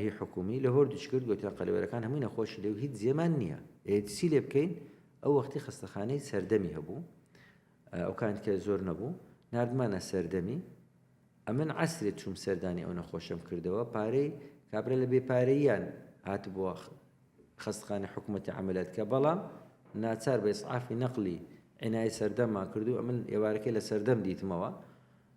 هی حکومی لە هۆر دچکرد گۆتیان قەلەوێرەکان هەموی نەخۆش لێو هیچ جێمان نیە ئێ چی لێ بکەین ئەو وەختی خەستەخانەی سەردەمی هەبوو ئەو کانت کە زۆر نەبوو نردمانە سەردەمی ئەمن عسرێت چوم سەردانی ئەو نەخۆشم کردەوە پارەی کابرا لە بێ پارەیان هات بووە خەستخانە حکوومەتی عملەت کە بەڵام ناچار بە ئسعافی نەقلی عنای سەردەممان کردو ئەمن ئێوارەکەی لە سەردەم دیتمەوە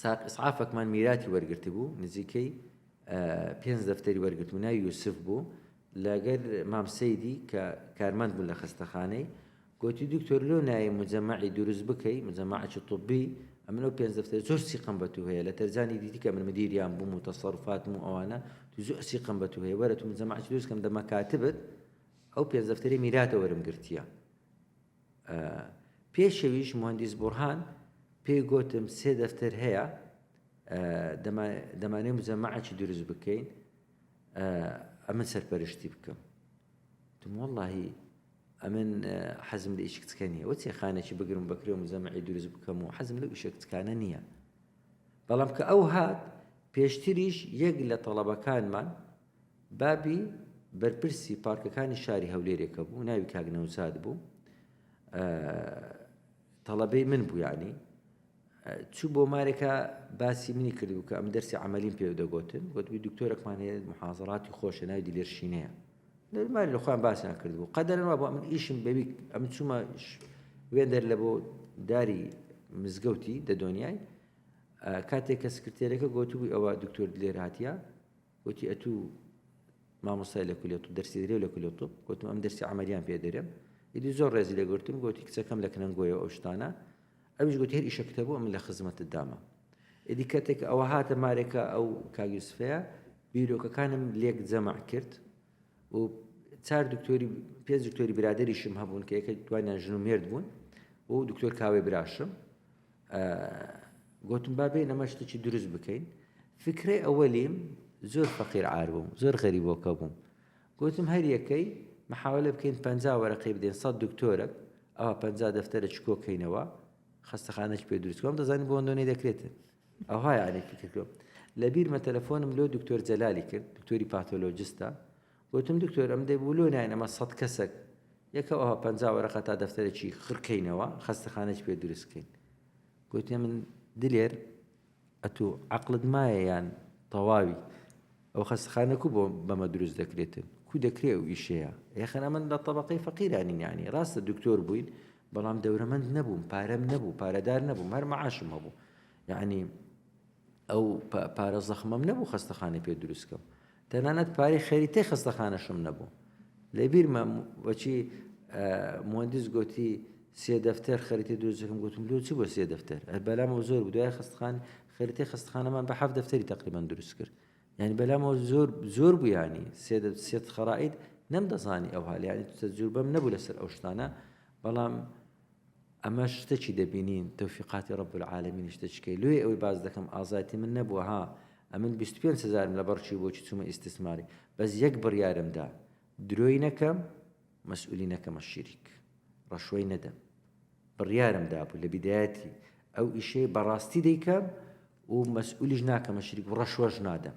ساق ئیسعافەکمان میراتی وەرگرتبوو، نزیکەی پێنج دەفتەری وەرگرتبوو، ناوی یوسف بوو، لەگەر مام سەیدی کە کارمەند بوو لە خەستەخانەی، گۆتی دکتۆر لۆ نایەی موجەمەعی دروست بکەی، موجەمەعەکی طبی، ئەمن ئەو پێنج دەفتەرە زۆر سیقەم بە تو هەیە، لە تەرزانی دیتی کە من مدیریان بووم و تەسەروفاتم و ئەوانە، تو زۆر سیقەم بە تو هەیە، وەرە تو موجەمەعەکی دروست کەم دە مەکاتبت، ئەو پێنج دەفتەرەی میراتە وەرم گرتییە. پێشەویش موهەندیس بورهان پێی گۆتم سێ دەفتەر هەیە دەمانەوێ موجەمەعەکی دروست بکەین ئەمن سەرپەرشتی بکەم تم واللهی ئەمن حەزم لە ئیش کچکە نییە وەچێ خانێکی بگرم بەکرێ و مزەمەعی دروست بکەم و حەزم لە ئیشە کچکانە نییە بەڵام کە ئەو هات پێشتریش یەک لە تەڵەبەکانمان بابی بەرپرسی پارکەکانی شاری هەولێرێ کە بوو ناوی کاک نەوزاد بوو تەڵەبەی من بوو یعنی چوو بۆ مارێکە باسی منی کردبوو کە ئەم دەرسی عملیم پێ دەگوتن گوتبی دکتۆرەکمان هەیە محازراتی خۆشە ناوی دیلێرشینەیە ماری لە خۆیان باسیان کردبوو قەدەرن وا بۆ من ئیشم بەوی ئەم چوومە وێندەر لە بۆ داری مزگەوتی دە دنیای کاتێک کە سکرتێرەکە گوتبووی ئەوە دکتۆر لێراتە وتی ئەتو مامۆستای لە کولیە طب دەرسی دەرێ و لە کولیە طب گوتم ئەم دەرسی عملیان پێ دەرێم ئیدی زۆر ڕێزی لێ گرتم گوتی کچەکەم لە کنەنگۆیە ئەو شتانە ئەویش گوتی هەر ئیشە کتەبوو ئەم لە خزمەتت دامە ئیدی کاتێک ئەوە هاتە مارێکە ئەو کاگیوسفەیە بیرۆکەکانم لێک جەمع کرد و چار دکتۆری پێ دکتۆری برادریشم هەبوون کە یەکە دوانیان ژن و مێرد بوون و دکتۆر کاوەی براشم گۆتم با بێین ئەمە شتێکی دروست بکەین فکرەی ئەوەلیم زۆر فەقیر عار بووم زۆر غەریبۆکە بووم گۆتم هەر یەکەی محاولە بکەین پ وەرەقی بدەین سە دکتۆرە ئەوە پ دەفتەرە چکۆکەینەوە خستەخانەش پێ دروستکۆم دەزانانی بۆ ئەندۆنی دەکرێتن ئەوهای عێکی کردوم لە بیرمە تەلەفۆنم لۆ دکتۆر جەلالی کرد دکتۆری پاتۆلۆجستە گۆتم، دکتۆر ئەم دەی بۆ لۆ ناین ئەمە سەد کەسەک یەکە ئەوها پەنجا وەرەقە تا دەفتەرەکی خڕ کەینەوە خەستەخانەکی پێ دروست کەین. گۆتیە من دلێر ئەتوو عەقڵت مایە یان تەواوی ئەو خەستەخانە کو بۆ بەمە دروست دەکرێتن کو دەکرێ و ئیشەیە یەخەن ئەمن لە طبقەی فەقیرانی یانی ڕاستە دکتۆر بووین بەڵام دەورەمەند نەبووم پارەم نەبوو پارەدار نەبووم هەر مەعاشم هەبوو یعنی ئەو پارە زەخمەم نەبوو خەستەخانەی پێ دروست کەم تەنانەت پارەی خەریتەی خەستەخانەشم نەبوو لە بیرمە وەچی مهندس گوتی سێ دەفتەر خەریتی دروستەکەم گوتم لۆ چی بۆ سێ دەفتەر بەلامەوە زۆر بدوای خستخان خەریتی خستخانەمان بە حەف دەفتەری تقریبان دروست کرد یعنی بەلامەوە زۆر زۆر بوویانی سێ سێت خەرائیت نەم دەزانی ئەوها لە ینی تەجروبەم نەبوو لەسەر ئەو شتانە بەڵام ئەمەش شتەکی دەبینین تەوفیقاتی رب العالمین شتەچکەی لۆیە ئەوەی باس دەکەم ئازایەتی من نەبووە ها ئەمن بیست و پێنج هەزارم لەبەڕ چوو بۆچی چوومە ئیستسماری بەس یەک بڕیارم دا درۆی نەکەم مەسئولی نەکەمە شیریک ڕەشوەی نەدەم بڕیارم دابوو لە بیدایەتی ئەو ئیشەی بەڕاستی دەیکەم و مەسئولیش ناکەمە شیریک و ڕەشوەش نادەم.